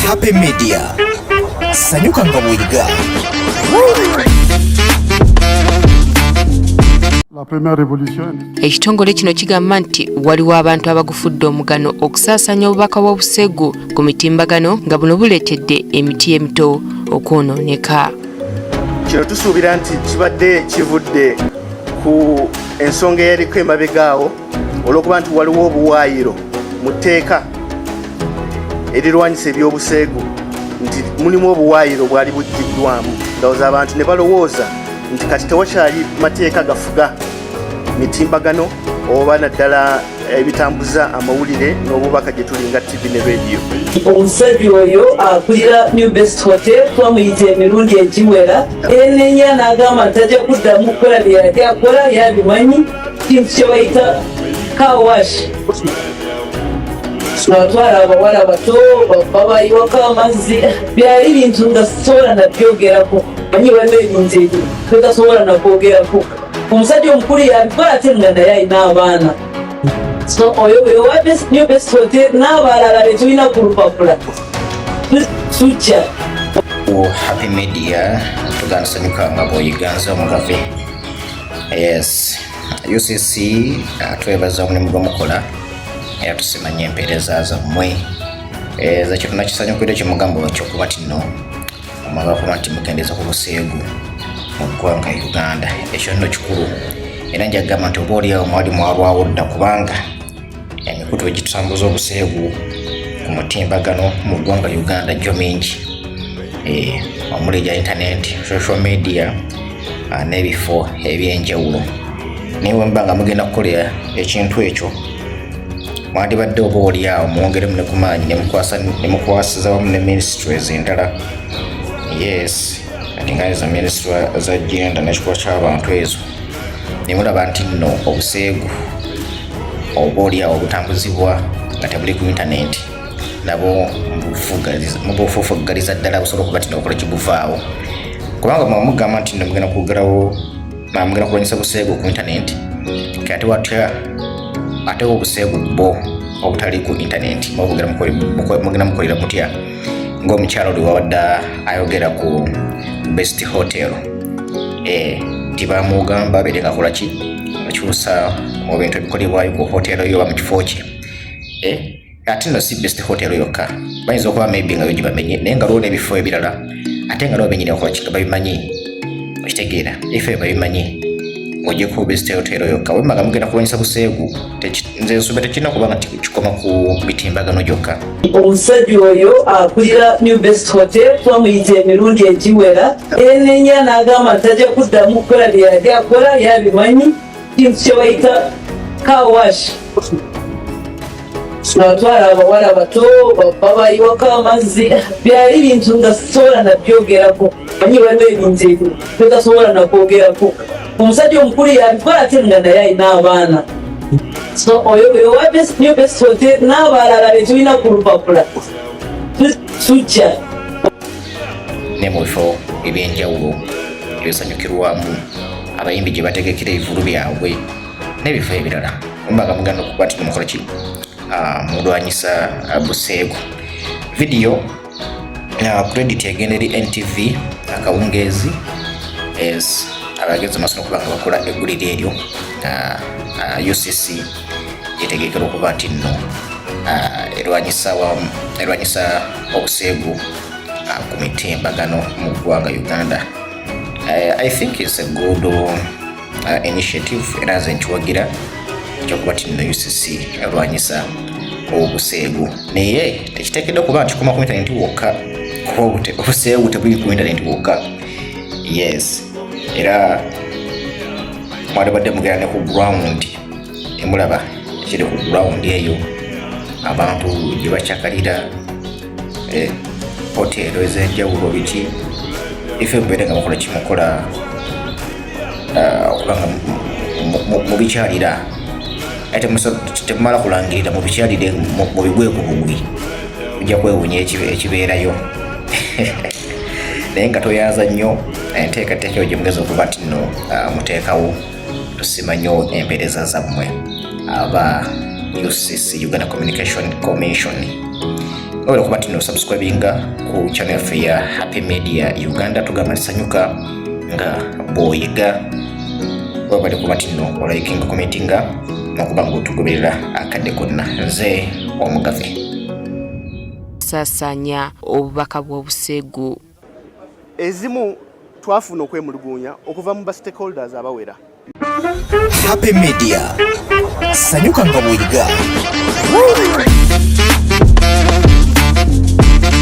Happy Media. Sanyuka nga bw'oyiga. ekitongole kino kigamba nti waliwo abantu abagufudde omugano okusaasanya obubaka bw'obuseegu ku mitimbagano nga buno buleetedde emiti emito okwonooneka kino tusuubira nti kibadde kivudde ku ensonga eyaliko emabegaawo olw'okuba nti waliwo obuwaayiro mu tteeka erirwanyisa ebyobuseegu nti mulimu obuwaayiro bwali bujjiddwamu ndowooza abantu ne balowooza nti kati tewakyali mateeka gafuga mitimbagano oba naddala ebitambuza amawulire n'obubaka gye tulinga tv ne rediyo omusajja oyo akulira new best hotel twamuyita emirundi egiwera enenya n'agamba nti ajja kuddamu kukola bye yali akola yabimanyi kintu kyebayita kawashi twatwala abawala bato babayiwako amazzi byali bintu nga sisobola nabyogerako anyi balina ebintu ebyo totasobola nakwogerako omusajja omukulu yabikola ate nga naye alina abaana so oyo wewabesinyo besote n'abalala betulina ku lupapula tujja happy media tugandisanyuka nga bwoyiganza omugave Yes. UCC uh, twebaza omulimu gwe mukola era tusimanya empeereza zammwe eh, zekyo tunakisanyukira ekimugambo kyokuba tino omwagakuba nti mukendeeza ku buseegu mu ggwanga Uganda ekyo nno kikulu era njagamba nti oba olyawo mwali mwalwawo dda kubanga emikutu egitutambuza obuseegu ku mutimbagano mu ggwanga uganda gyo mingi eh, omuli egya intaneti social media ah, n'ebifo ebyenjawulo naye wemuba nga mugenda kukolera ekintu ekyo mwandibadde oba oliawo mwongeremu ne ku maanyi nemukwasiza wamu ne ministries endala yes ati nga ezo ministry za genda nekikuba ky'abantu ezo ne mulaba nti nno obuseegu oba olyawo obutambuzibwa nga tebuli ku intanenti nabo mubufufuggaliza ddala busobola okuba tino okola kiguvaawo kubanga mwe mugamba nti no mugenda kugalawo mugenda kulwanyisa buseegu ku intanenti kati watya ate obuseegu bwo obutali ku intanenti mugenda mukolera mutya ng'omukyalo oli wabadde ayogera ku best hotel eh, nti bamugamba bere ngakola ki akyusa mu bintu ebikolebwayo ku hotel yo oba mu kifo kye eh, ate no si best hotel yokka bayinza okuba maybe nga yogi bamenye naye nga lwona ebifo ebirala ate nga lwo benyini okola kiga babimanyi okitegeera ebifo ebyo babimanyi ng'ogyeko best hotel yokka wemmaga mugenda kulwanyisa buseegu nze nsoma tekirina kuba nga kikoma ku mitimbagano gyokka omusajja oyo akulira new best hotel twamuyita emirundi egiwera enenya n'agamba tajja kuddamu kukola bye yali akola yabimanyi kintu kye bayita kawash atwala abawala bato babayiwako amazzi byali bintu nga sobola nabyogerako manyi waliwo ebintu ebyo byotasobola nakwogerako omusajja omukulu yabikola ate nga naye alina abaana so oyo owa best new best hotel n'abalala betulina ku lupapula tujja ne mu bifo ebyenjawulo ebisanyukirwamu abayimbi gye bategekera ebivulu byabwe n'ebifo ebirala ombaga muganda okukwatira mukola ki ah, mulwanyisa ah, buseegu vidiyo credit egenda eri ntv akawungeezi es abagenzi masono okuba nga bakola eggulire eryo ucc yetegekera okuba nti nno erwanyisa obuseegu ku mitimbagano mu ggwanga uganda i think is a good uh, initiative era nze nkiwagira kyokuba tino ucc alwanyisa obuseegu naye tekitekedde okuba nti kikoma ku intaneti wokka kuba obuseegu tebuli ku intaneti wokka yes era mwalibadde mugera ne ku ground emulaba ekiri ku ground eyo abantu gye bakyakalira eh, hoteero ez'enjawulo biki ife mubeere nga mukola kimukola ah, okubanga mubikyalira ate temumala kulangirira mubikyalire mubigwe ku bugwi ojja kwewunya ekibeerayo naye nga toyaza nnyo enteekateeka yo gyemugeza okuba nti no ah, muteekawo tusimanyo empereza zammwe aba UCC Uganda Communication Commission oyo kuba tino subscribinga ku channel yaffe ya Happy Media Uganda tugamba sanyuka nga boyiga webale kuba tino olayikinga komentinga nokuba nga otugoberera akadde konna nze omugave sasanya obubaka bw'obuseegu ezimu twafuna okwemulugunya okuva mu ba stakeholders abawera Happy Media sanyuka nga bweriga